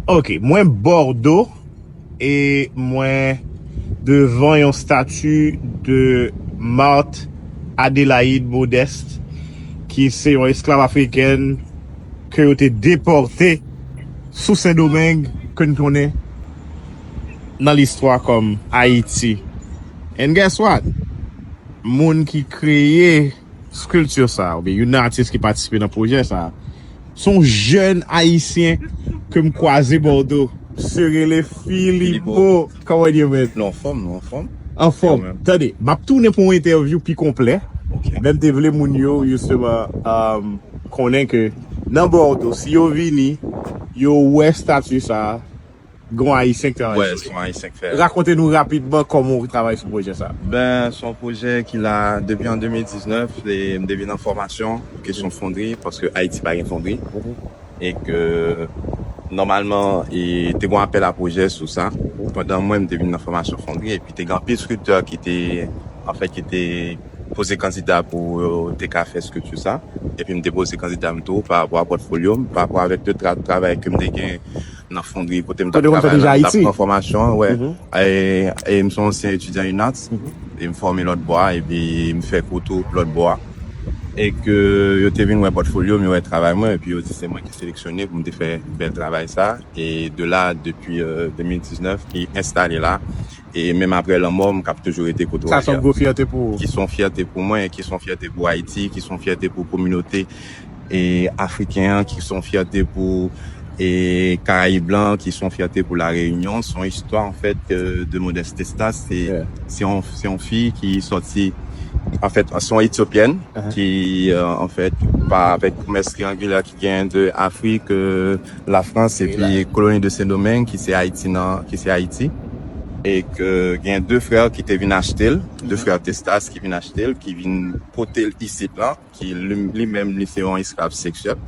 Ok mwen bordo e mwen devan yon stati de Marthe Adélaïde Modeste ki se yon esklav afrikèn ke yo te depòte sou sendomeng ke n konnen nan listwa kòm Ayiti and guess what moun ki kreye Sculpture sa a, oubyen youn nan atis ki patisipe nan pwojè sa a, se yon jèn ayisyen ke m kwaze Bòdo. Se rele Filipo. Kòman w ye mèt? Nou anfòm, nou anfòm. Anfòm. Tande, m ap tounen pou yon entèvyou pi konplè, men m te vle moun yo jisteman konnen ke nan Bòdo, si yo vini, yo wè stati sa a, Gon Ayisyen ki travay sou li. Wè, son Ayisyen ki fè. Rakonte nou rapidman kòman ou travay sou pwojè sa a. Ben, son pwojè ki la depi an 2019, e m depi nan fòmasyon pou kesyon fondri, paske Ayiti pa gen fondri, e ke nòmalman e te gon apèl a pwojè sou sa, pandan mwen m te vin nan fòmasyon fondri, epi te gen anpil scripteurs ki te, an fèt ki te poze kandida pou yo te ka fè scripture sa, epi m te poze kandida m tou pa rapò a pòtfolyo m, pa rapò avèk de travay ke m te gen nan fondri kote m tap travay la, m tap pran fòmasyon an, wè. E m se yon ansyen etidyan UNATS, e m fòme lòtbò a, epi m fè kou tou lòtbò a. E ke yo te vin wè pòtfolyo m, yo wè travay mwen, epi yo di se mwen ki seleksyone pou m te fè bèl travay sa a. E de la, depi 2019, ki enstale la, E menm apre lanmò m, k ap toujou rete kote w ye a. Sa s on gwo fyète pou ou? Ki s on fyète pou mwen, ki s on fyète pou Ayiti, ki s on fyète pou kominote Afriken an, ki s on fyète pou Karayib la, ki s on fyète pou La Reyinyon. S on istwa anfèt de Modeste Estas. Se yon fi ki soti, anfèt, s on Etyopyèn ki anfèt pa avèk komès triyangilè Gen de Afrik, la Frans epi koloni de Sendomeng ki se Ayiti nan, ki se Ayiti. E ke gen de frè ki te vin achte l, de frè Testas ki vin achte l, ki vin pote l isit lan, ki li menm li se yon esklav seksyèl.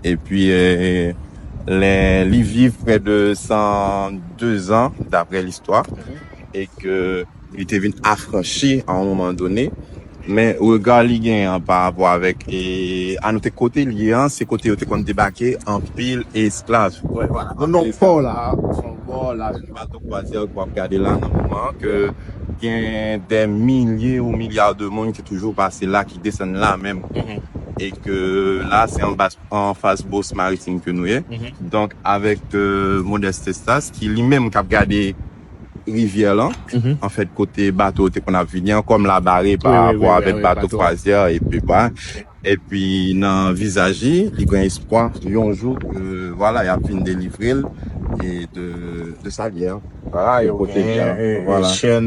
Epi lè li viv prè de 102 zan daprè listwa e ke Li te vin afranchi a yon moman done, men rega li genyen an pa rapò avèk, e a note kote li ye an, se kote yo te konn debake anpil esklav. Nan nò pò la a, sou bò lari bato kwazyè ke w ap gade la nan moman an, ke gen dè milye ou milya de moun ki toujou pase la, ki desann la menm, e ke la a se anfas Bourse Maritime ke nou ye, donk avèk Modeste Estas ki li menm k ap gade. rivyè lan, anfèt kote bato yo te konn ap vini an, kòm la bare pa rapò avèk bato kwazyè epi ba, epi nan vizaj li, li gen espwa yon jou ke vwala y ap vin delivre l de sa gè an. Vwala yo genyen chèn.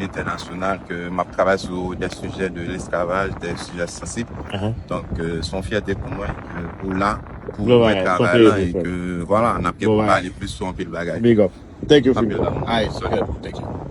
entènasyonal ke m ap travay sou dè sijè de lesklavaj, dè sijè sansib. Donk, se yon fyète pou mwen ke ou la pou ou wè travay la e ke vwala, n ap gen pou pale plis sou anpil bagay. Anpil lanmou. Solid bro. Thank you.